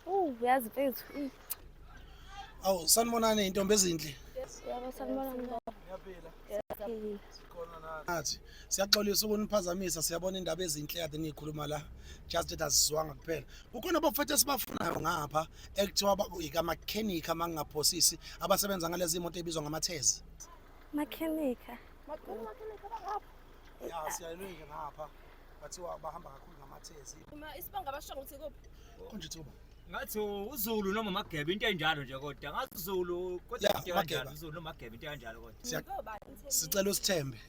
Uh, uyazi mfethu. Awu sanibonani intombi ezinhle. Yebo sanibonani baba. Ngiyaphila. Ngiyaphila. Sikhona nathi. Nathi siyaxolisa ukuniphazamisa siyabona indaba ezinhle kade niyikhuluma la. Just that azizwanga kuphela. Kukhona abafethu esibafunayo ngapha ekuthiwa bakuyika mechanic amangaphosisi abasebenza ngalezi imoto ebizwa ngamathezi. Makhenika. Makhenika bangapha. Ya siyayilwe nje ngapha. bathiwa bahamba kakhulu ngamathezi Uma isibonga basho ukuthi kuphi? konje thuba ngathi uzulu noma mageba into enjalo nje kodwa ngathi uzulu kodwa Ya, into Mageba. kanjalo uzulu noma mageba into kanjalo kodwa Siya- Ngoba ngithe- sicela usithembe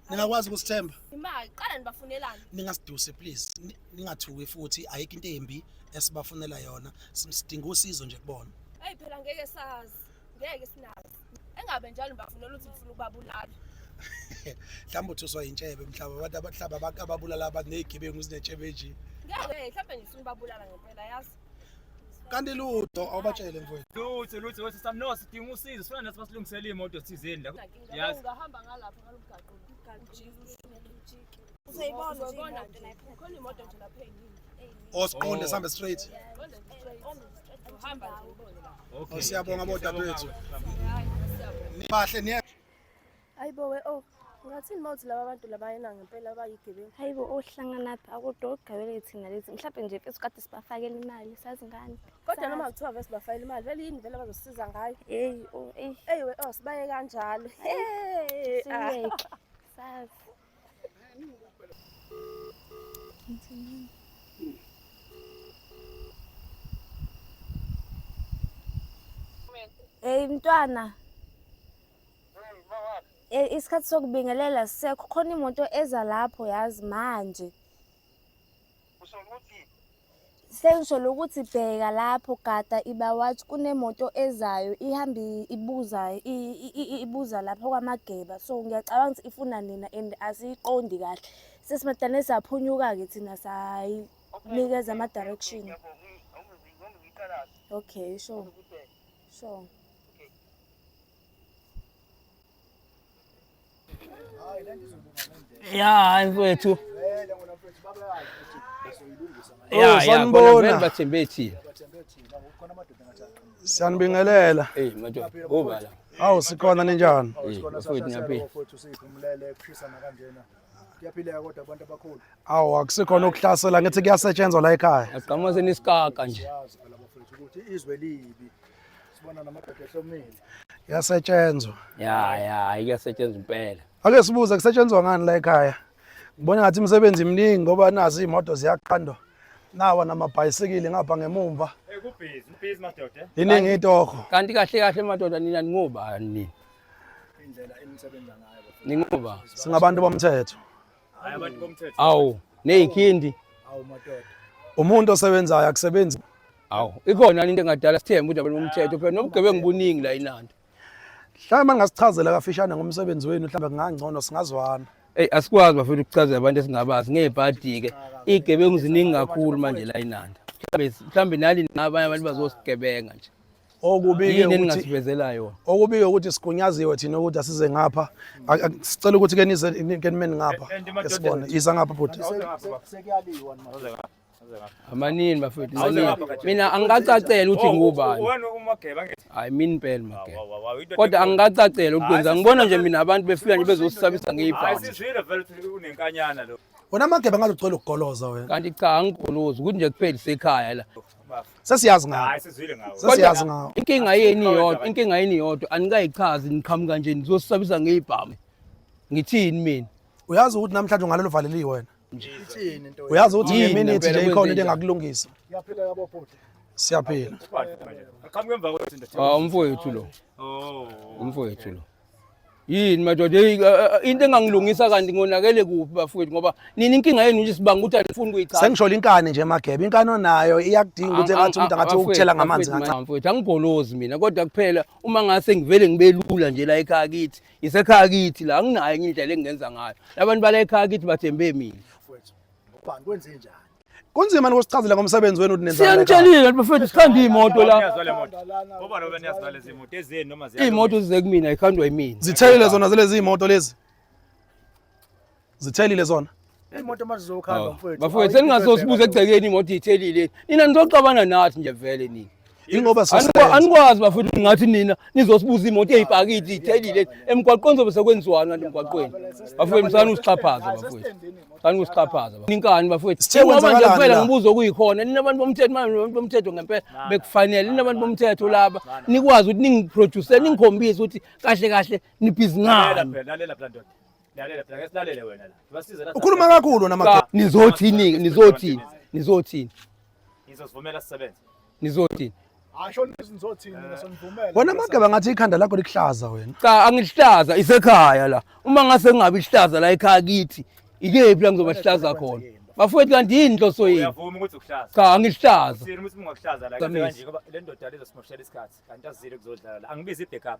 ningakwazi ukusithemba Imali qala nibafunelani? ningasiduse please Ni- ningathuki futhi ayikho into embi esibafunela yona Sim- sidinga usizo nje kubona Hey phela ngeke sazi. ngeke sinazi engabe njalo ngibafunela ukuthi ngifuna ukubabulala mhlawumbe uthuswa yintshebe mhlawumbe abantu abahlaba abantu ababulala abantu ney'gebengu zinetshebe nje ngeke mhlawumbe ngifuna ubabulala ngempela yazi kanti lutho awubatshele mfowethu lutho lutho wethu sami no sidinga usizo sifuna nathi basilungisele imoto thizeni la yazi ngahamba ngalapha ngalomgaqo ujike ushune ujike osiqonde oh, sihambe straight okay siyabonga bodadewethu nibahle niye ayibo we oh ngathini mawuthi laba bantu labayena ngempela abayigebengu hayibo ohlanganaphi akudogabele thina lezi mhlawumbe nje fethu kade sibafakela imali sazi ngani kodwa noma kuthiwa vese bafakela imali vele yini vele bazosiza ngayo heyi oh, eyi we oh sibaye kanjalo heyi siyeke sazi Hey mntwana. Hey eh, isikhathi sokubingelela sisekho khona imoto eza lapho yazi manje. Sengisho ukuthi bheka lapho gada iba wathi kunemoto ezayo ihambe ibuza ibuza lapho kwaMageba so ngiyacabanga ukuthi ifuna nina and asiyiqondi kahle sesimadane saphunyuka-ke thina sayinikeza ama-direction okay sure sure ya mfowethu oh, sanibona bathembe thina siyanibingelela eh madoda kuba la awu sikhona ninjani eh, mfowethu ngiyaphila kuyaphileka kodwa abantu abakhulu awu akusikhona ukuhlasela ngithi kuyasetshenzwa la ekhaya agqama senisikaka nje ukuthi izwe libi Sibona namadoda ehlomile. Yasetshenzwa. Ya ya iyasetshenzwa impela. Ake sibuze kusetshenzwa ngani la ekhaya? Ngibona ngathi imisebenzi iminingi ngoba nazi imoto ziyaqhandwa. Nawa namabhayisikili ngapha ngemumva. Eh kubhizi, ubhizi madoda. Eh? Iningi itoho. Kanti kahle kahle madoda nina ningobani? Indlela enisebenza ngayo. Ningoba singabantu bomthetho. abantu bomthetho awu nezikhindi awu madoda umuntu osebenzayo akusebenzi awu ikhona into engadala sithembe ukuthi abantu bomthetho phela nobugebengu buningi la inandi mhlawumbe angasichazela kafishane ngomsebenzi wenu mhlawumbe kungangcono singazwana eyi asikwazi bafethu ukuchazela abantu esingabazi ngebhadi-ke iy'gebengu ziningi kakhulu manje la inanda mhlawumbe mhlawumbe nani nabanye abantu bazosigebenga nje okubike ukuthi okubike ukuthi sigunyaziwe thina ukuthi asize ngapha sicela ukuthi ke nize ke nimeni ngapha esibone isa ngapha bhuti sekuyaliwa amanini bafethu mina angikacacela ukuthi ngubani hayi mini impela mageba kodwa angikacacela ukuthi kwenza ngibona nje mina abantu befika nje bezosisabisa ngeyibhasi wena mageba ngaze ucela ukugoloza wena kanti cha angigolozi ukuthi nje kuphela isekhaya la Sesiyazi ngawo. Hayi sizwile ngawo. Sesiyazi ngawo. Inkinga yeni yodwa, inkinga yini yodwa anikayichazi niqhamuka nje nizosabisa ngeyibhamu. Ngithini mina? Uyazi ukuthi namhlanje ungalelo valeliwe wena. Ngithini into. Uyazi ukuthi Yini ngemini ngempela nje ikhona kwenze into njani? engakulungisa. Yaphila yabo bhuti. Siyaphila. Aqhamuke emva kwethu ndoda. Ah umfowethu lo, Oh. umfowethu lo. yini madoda eh, eh, into engangilungisa kanti ngonakele kuphi bafowethu ngoba nini inkinga yenu nje sibanga ukuthi anifuni kuyichaza sengisholo inkani nje magebe inkani onayo iyakudinga ukuthi engathi umuntu angathi ukuthela ngamanzi kancane mfowethu angigolozi mina kodwa kuphela uma ngase ngivele ngibelula nje la ekhaya kithi isekhaya kithi la anginayo enye indlela engingenza ngayo labantu bala ekhaya kithi bathembe mina mfowethu ubani kwenze njani Kunzima nikusichazela ngomsebenzi wenu ninenza. Siyanitshelile ukuthi bafethu sikhanda imoto la. Ngoba lo beniyazi nalezi moto ezeni noma ziya. Imoto zize kumina ikhandwa yimina. Zithelile zona zalezi imoto lezi. Zithelile zona. Imoto mazizokhanda mfethu. Bafethu seningazosibuza egcekeni imoto ithelile. Nina nizoxabana nathi nje vele nini. Ingoba anikwazi bafethu ngathi nina nizosibuza imoto eyibhakidi ithelile emgwaqweni zobe sekwenziwani kanti emgwaqweni bafethu msani usixhaphaza bafethu sani usixhaphaza ninkani bafethu ingoba nje kuphela ngibuza okuyikhona nina abantu bomthetho manje abantu bomthetho ngempela bekufanele nina abantu bomthetho laba nikwazi ukuthi ningiproduce ningikhombise ukuthi kahle kahle nibhizi ngani ukhuluma kakhulu namakhona nizothini nizothini nizothini ngizosivumela sisebenze Nizothini? Asho nizothini ngisonivumela. Wena amageba ngathi ikhanda lakho likuhlaza wena. Cha angihlaza isekhaya la. Uma ngase kungabi ihlaza la ekhaya kithi. Ikephi la ngizoba sihlaza khona. Bafowethu kanti yini inhloso yini? Uyavuma ukuthi ukuhlaza. Cha angihlaza. Sini ukuthi ungakuhlaza la kanje ngoba le ndoda lezosimoshela isikhathi. Kanti azile kuzodlala la. Angibizi i-backup.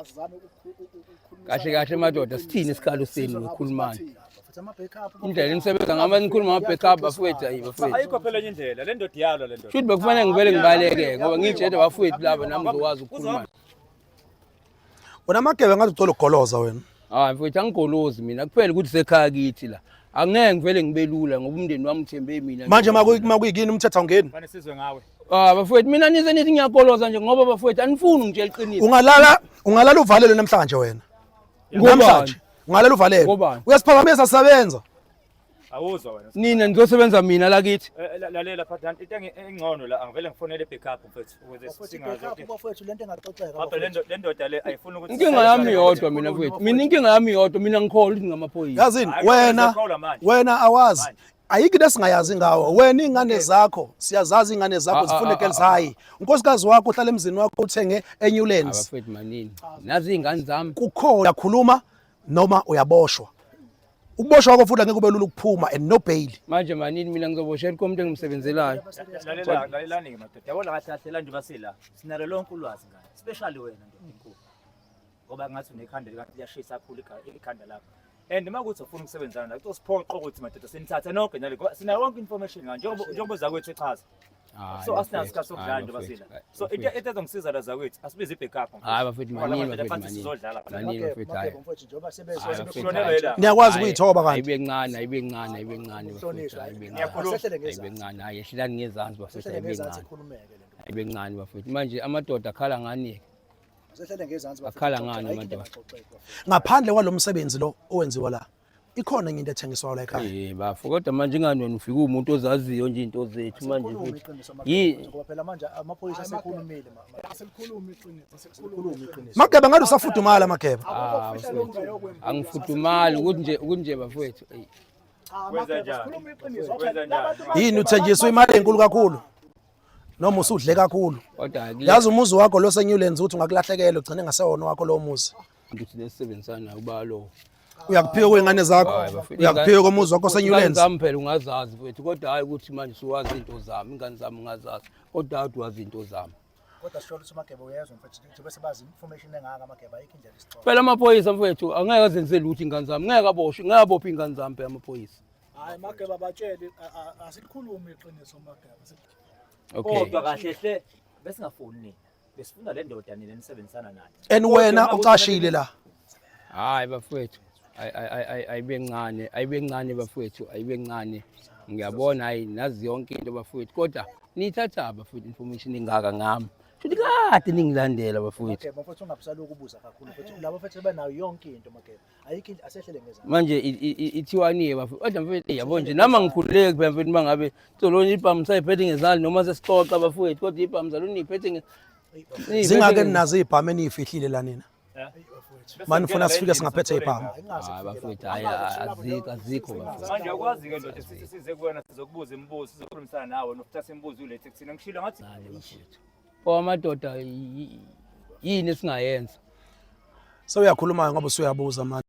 azame ukukhuluma kahle kahle madoda sithini isikhalo senu ngikhulumani indlela enisebenza ngama nikhuluma ngama backup bafowethu ayi bafowethu ayikho phela enye indlela le ndoda iyalo le ndoda shuthi bekufane ngivele ngibaleke ngoba ngitshede bafowethu laba nami ngizokwazi ukukhuluma wena magebe ngathi uthola ugoloza wena hayi mfowethu angigolozi mina kuphela ukuthi sekhaya kithi la angeke ngivele ngibelula ngoba umndeni wami uthembe mina manje makuyikini umthetho awungeni fane sizwe ngawe ah bafowethu mina nize nithi ngiyagoloza nje ngoba bafowethu anifuni ngitshela iqiniso ungalala ungalala uvalelwe namhlanje wena namhlanje ungalala uvalelwe uyasiphakamisa sabenza Awuzwa wena. Nina nizosebenza mina la kithi. Eh, eh, lalela phathana into engcono la angivele ngifonele backup mfethu ukuze singazi ukuthi bafethu lento engaxoxeka. Baba lento lendoda le ayifuni ukuthi Inkinga yami yodwa mina mfethu. Mina inkinga yami yodwa mina ngikholwa ukuthi ngamaphoyisa. Yazini wena wena awazi ayikho into esingayazi ngawo wena ingane zakho siyazazi ingane zakho ah, ah, zifune ah, girls high unkosikazi wakho uhlala emzini wakho uthenge eNewlands abafethu manini nazi ingane zami kukhona khuluma noma uyaboshwa ukuboshwa kwakho futhi angeke ube lula ukuphuma and no bail manje manini mina ngizoboshela konke umuntu engimsebenzelayo Lalela- lalelani-ke madoda yabona kahle kahle la njengoba sila sinalo lonke ulwazi ngane especially wena ndoda enkulu ngoba ngathi unekhanda likanti liyashisa kakhulu iga- ikhanda lakho and uma kuthi ufuna ukusebenzana nayo kuzosiphoqa ukuthi madoda sinithathe nonke nale ngoba sinayo yonke information ngani njengoba njengoba uzakwethu echaza Ah, so asinaso isikhathi sokudlala nje basina so into into ezongisiza la zakwethu asibize ibackup hayi bafethu maningi bafethu maningi sizodlala maningi bafethu hayi niyakwazi ukuyithoba kanti ayibe ncane ayibe ncane ayibe ncane bafethu ayibe ncane ayibe ncane hayi ehlelani ngezansi bafethu ayibe ncane ayibe ncane bafethu manje amadoda akhala ngani ke akhala ngani amadoda ngaphandle kwalomsebenzi lo owenziwa la ikhona enye into ethengiswayo la ekhaya eh bafo kodwa manje ingani wena ufika umuntu ozaziyo nje into zethu manje futhi yi ngoba phela manje amaphoyisa sekhulumile asikhulumi iqiniso sikhulumi iqiniso mageba ngathi usafudumala mageba ah, angifudumali ukuthi nje ukuthi nje bafowethu ey yini uthenjiswa imali enkulu kakhulu noma usudle kakhulu yazi umuzi wakho lo seNewlands uthi ungakulahlekela ugcine ngasewona wakho lowo muzi ngithi nesisebenzisana nayo balo uyakuphiwa kwey'ngane zakho Hhayi, bafethu, uyakuphiwa komuzi wakho Ingane senyulensi zami phela ungazazi kwethu kodwa hhayi ukuthi manje suwazi into zami ingane zami ungazazi kodwa hhayi wazi into zami kodwa sisholo ukuthi umageba uyezwa mfethu ukuthi bese bazi information engaka amageba ayikho indlela isixoxa phela amaphoyisa mfethu angeke azenze lutho ingane zami ngeke aboshwe ngeke abophe ingane zami phela amaphoyisa hayi mageba batshele asikhulumi iqiniso mageba okay kodwa kahle hle besingafuni nina Besifuna le ndoda nina nisebenzisana nayo. And wena ucashile la. Hayi bafowethu. Ay- ay- ay- ay- Ayibe ncane, ayibe ncane bafowethu, ayibe ncane. Ngiyabona hayi nazi yonke into bafowethu kodwa nithatha bafowethu information engaka ngami. Futhi kade ningilandela bafowethu. Makeba mfowethu ungabusalokhu ubuza kakhulu mfowethu. Laba mfowethu banayo yonke into Makeba. ayikho into asehlele ngeza manje ithiwani-ke bafethu kodwa mfethu yabo nje nami angikhululeki phela mfethu uma ngabe solona ibhamu sayiphethe ngezandla noma sesixoxa bafowethu kodwa ibhamu saluniyiphethe zingake ninazo iy'bhamu eniyifihlile la nina mani ufuna sifike singaphethe ibhamu bafowethu hayi azikho azikho manje akwazi ke ndoda sithi size kuwena sizokubuza imibuzo sizokhulumisana nawe nokuthatha imibuzo ulethe kuthina ngishilo ngathi Owamadoda yini esingayenza? Sewuyakhuluma ngoba usuyabuza manje.